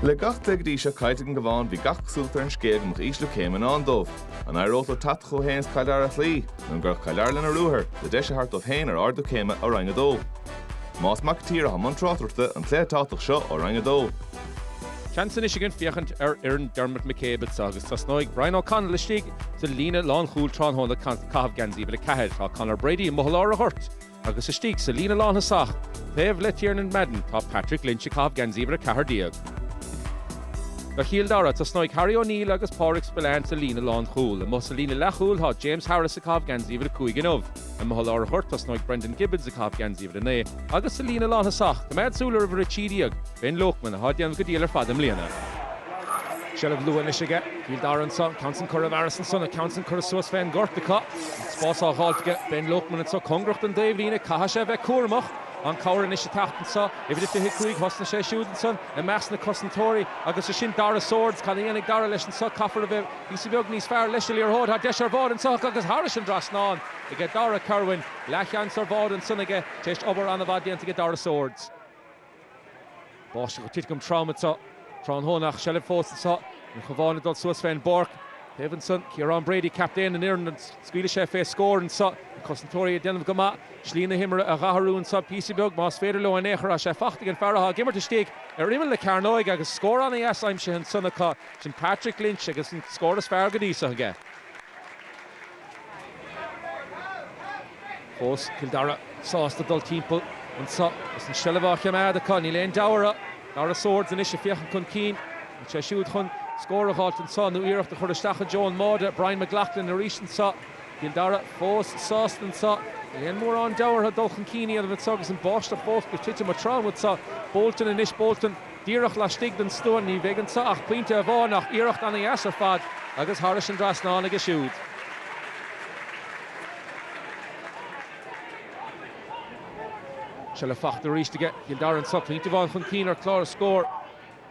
Le gach cluiche go dtí seo caillte ag an gCabhán bhí gach cosúlacht ar an scéal go mbeadh ísliú céime in ndán dóibh. An éireodh le leo teacht chucu féin is Cill Dara a chloí, nó an gcuirfeadh Cill Dara lena ruathar, le deis a thabhairt dóibh féin ar ardú céime ó Roinn 2? Tomás Mac an tSaoir atá i mbun tráchtaireachta don chluiche tábhachtach seo ó Roinn 2, Seans anois again féachaint ar fhoireann Dermot McCabe anseo agus tosnóidh Brian O'Connell istigh sa líne lánchúil tráthnóna ag caitheamh geansaí uimhir 4. Tá Conor Brady amuigh i lár an ghoirt. Agus istigh sa líne lántosaigh taobh le Tiernan Madden tá Patrick Lynch ag caitheamh geansaí uimhir a ceathair déag. Do Chill Dara tosnóidh Harry O'Neill agus Pádraig Spillane sa líne lánchúil. Amuigh sa líne leathchúil tá James Harris ag caitheamh geansaí uimhir a cúig inniu. Amuigh i lár an ghoirt tosnóidh Brendan Gibbons ag caitheamh geansaí uimhir a naoi. Agus sa líne lántosaigh coimeád súil ar uimhir a trí déag, Ben Loakman, atá ag déanamh go diail ar fad i mbliana. Seilbh luath anois aige Cill Dara anseo, ceann san curtha roimh Harris ansan, an ceann san curtha suas fén ngort acu. Agus spás á dh'fháilt aige, Ben Loakman anseo cóngarach don dtaobhlíne, caithfidh sé a bheith cúramach. An cabhair anois ag teacht anseo, uimhir a 25, thosnaigh sé siúd ansan i measc na cosantóirí. Agus é sin Darragh Swords, cad a dhéanfaidh Darragh leis anseo, caithfear a bheith píosa beag níos fearr leis sa liathróid. Tá deis ar bháide anseo agus thairis an dtrasnán aige Darragh Kirwan. Leathsheans ar bháide ansan aige tar éis obair an-mhaith déanta aige Darragh Swords. Báisteach ag titim trom anseo tráthnóna ach seilbh fós ag an Chabhán ag dul suas fén bpáirc. An taobh ansan, Ciarán Brady, captaen an fhoireann, an scaoilfidh sé fé scór anseo? Na cosantóirí ag déanamh go maith. Slí na himeartha a dh'athrú anseo píosa beag más féidir leo in aon chor. Tá sé faighte ag an fear atá ag imirt istigh ar imeall na cearnóige agus scór an-deas aimsithe ansan acu. Sin Patrick Lynch agus an scór is fearr go dtí seo aige. Fós Cill Dara sásta dul timpeall anseo agus an seilbh á choimeád acu. Níl aon deabhadh orthu. Darragh Swords anois ag féachaint chun cinn. An bhfuil sé siúd chun scór a dh'fháilt anseo nó iarracht a chur isteach i dtreo an mbáide. Brian McLaughlin arís anseo. Cill Dara fós sásta anseo. Níl aon mhórán deabhadh orthu dul chun cinn a dhéanamh anseo agus an báisteach fós ag titim go trom anseo. Bolton anois. Bolton. Díreach laistigh den stua ní bheidh anseo ach pointe amháin ach iarracht ana dheas ar fad agus thairis an dtrasnán aige siúd. Seilbh fachta arís aige Cill Dara anseo, pointe amháin chun cinn ar chlár na scór.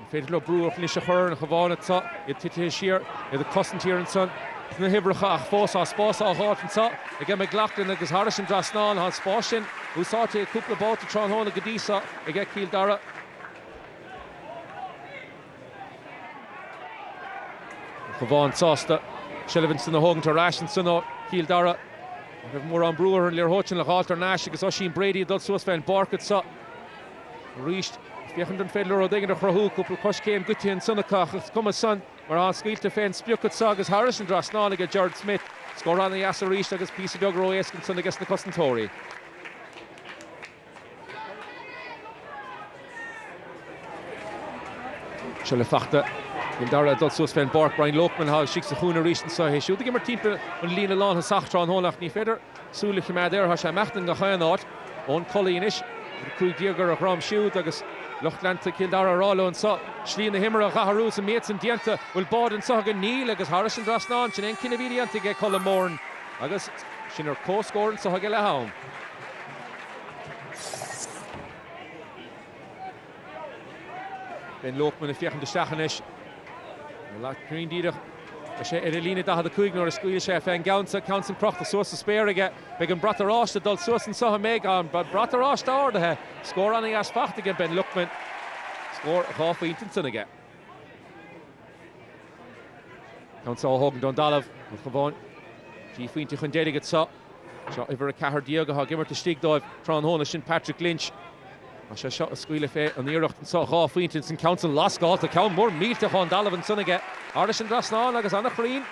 An féidir leo brú anois a chur ar an Chabhán anseo, iad titithe siar, iad ag cosaint thiar ansan sna huimhreacha ach fós tá spás á dh'fháilt anseo aige McLaughlin agus thairis an dtrasnán, tá an spás sin úsáidte aige cúpla babhta tráthnóna go dtí seo aige Cill Dara. An Cabhán sásta seilbh ansan a thógaint ar ais ansan ó Chill Dara. Ní raibh mórán brú orthu an liathróid sin a dh'fháilt thar n-ais agus Oisín Brady ag dul suas fé an bpáirc anseo arís. Féachaint an féidir leo rud éigin a chruthú. Cúpla coiscéim goidte ansan acu ach is cuma san mar tá sé scaoilte fé an sprioc anseo agus thairis an dtrasnán aige Gerard Smith. Scór ana dheas arís agus píosa beag ró-éasca ansan aige sna cosantóirí. Seilbh fachta Cill Dara ag dul suas fén bpáirc. Brian Loakman thall istigh sa chúinne arís anso. É siúd ag imirt timpeall an líne lántosach tráthnóna ach ní féidir súil a choimeád air. Thá sé ag imeacht i ngach aon áit. Eoin Cully anois, uimhir a cúig déag ar a dhrom siúd agus lucht leanta Chill Dara ag rá leo anso, slí na himeartha a dh'athrú is an méid san déanta. Bhfuil báide anso againn? Níl agus thairis an dtrasnán. Sin é an cinneadh a bhí déanta age Colm Moran agus sinn ar comhscór anso age leath-am. Ben Loakman ag féachaint isteach anois. Ní lá cruinn díreach. Tá sé ar an líne 45 nuair a scaoil sé fé an gceann san. Ceann san crochta suas sa spéir aige. Beidh an brat oráiste ag dul suas anso an mbeidh. Beidh an brat oráiste ardaithe. Scór ana dheas fachta age Ben Loakman. Scór dhá phointe ansan aige. Ceann seo a thógann don dtalamh, an Cabhán trí phointe chun deiridh anseo. Seo uimhir a ceathair déag atá ag imirt istigh dóibh tráthnóna, sin Patrick Lynch. É seo ag scaoileadh fé an iarracht anseo, dhá phointe ins an ceann san, lascálta, ceann mór millteach ón dtalamh ansan aige. Thairis an dtrasnán agus ana chruinn.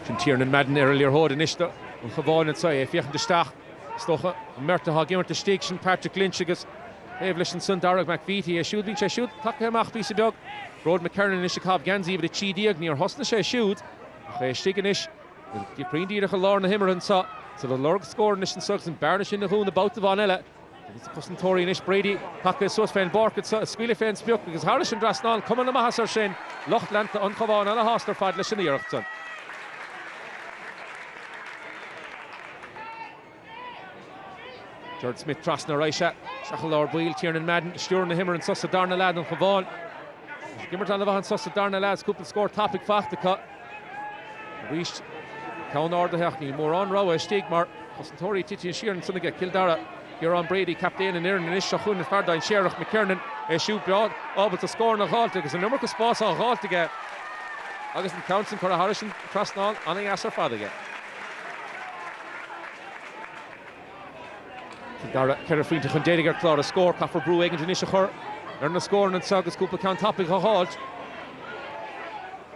Sin Tiernan Madden ar an liathróid anois don Chabhán anseo. É ag féachaint isteach. Is dócha an mbeirt atá ag imirt istigh, sin Patrick Lynch agus taobh leis ansan Darragh McVeety. É siúd, bíonn sé siúd tagtha amach píosa beag. Gearóid McKiernan anois ag caitheamh geansaí uimhir 13. Níor thosnaigh sé siúd ach é istigh anois. Cruinn díreach i lár na himeartha anseo. Siúd ag lorg scór anois anseo agus an bhearna sin a dhúnadh babhta amháin eile. Agus na cosantóirí anois, Brady tagtha suas fén bpáirc anseo, ag scaoileadh fén sprioc agus thairis an dtrasnán, cuma na maitheasa air sin. Lucht leanta an Chabháin ana shásta ar fad leis an iarracht san. Gerard Smith trasna ar aghaidh isteach i lár baill, Tiernan Madden ag stiúradh na himeartha anseo sa darna leath don Chabhán. Is ag imirt ana mhaith anseo sa darna leath is cúpla scór tapaidh fachta acu. Arís, ceann ardaithe ach ní mórán rogha istigh mar cosantóirí titithe siar ansan age Cill Dara, Ciarán Brady, captaen an fhoireann anois, seo chugainn fear dainséarach, McKiernan, é siúd breá, ábalta scóranna a dh'fháilt agus an iomarca spáis á dh'fháilt aige agus an ceann sin curtha thairis an trasnán an-dheas ar fad aige. Cill Dara ceithre phointe chun deiridh ar chlár na scór. Caithfear brú éigint anois a chur ar na scóranna anseo agus cúpla ceann tapaidh a dh'fháilt.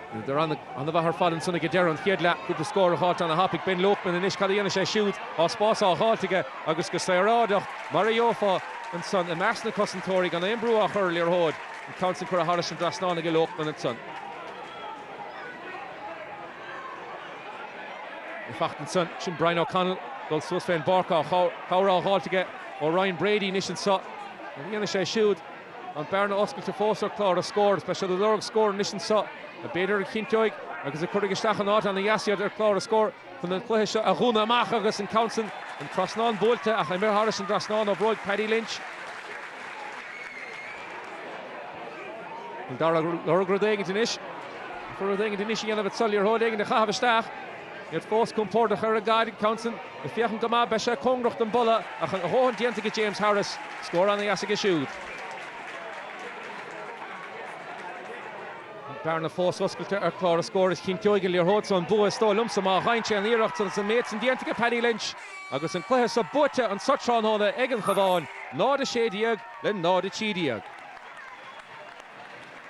Bhíodar an-mhaith ar fad ansan ag deireadh an chéad leath. Cúpla scór a dh'fháilt ana thapaidh. Ben Loakman anois. Cad a dhéanfaidh sé siúd? Tá spás á dh'fháilt aige agus go saoráideach, mar a gheofá ansan, i measc na cosantóirí, gan aon bhrú á chur ar an liathróid. An ceann sin curtha thairis an dtrasnán age Loakman ansan. Ag teacht ansan, sin Brian O'Connell ag dul suas fén bpáirc. Tá cabhair á dh'fháilt aige ó Ryan Brady anois anso. Cad a dhéanfaidh sé siúd? An bearna oscailte fós ar chlár a scór is beidh siad ag lorg scór anois anseo a b'fhéidir a chinnteoidh agus a chuirfidh isteach in áit ana dheas iad ar chlár a scór chun an cluiche seo a dhúnadh amach agus an ceann sin an trasnán buailte ach imithe thar an dtrasnán ó bhróig Paddy Lynch. Doire ag lorg rud éigin anois. Chun rud éigin anois a dhéanamh agus an liathróid éigin a chaitheamh isteach. Iad fós compordach ar an gcarn ag an gceann san, ag féachaint go maith, beidh sé cóngarach don bhalla ach a dhóthain déanta aige James Harris, scór an-deas aige siúd. An bearna fós oscailte ar chlár a scór is cinnteoidh an liathróid so an bua is dóigh liomsa má dhéanann sé an iarracht san is an méid san déanta aige Paddy Lynch agus an cluiche so buaite anseo tráthnóna ag an Chabhán, 0, 16 le 0, 13.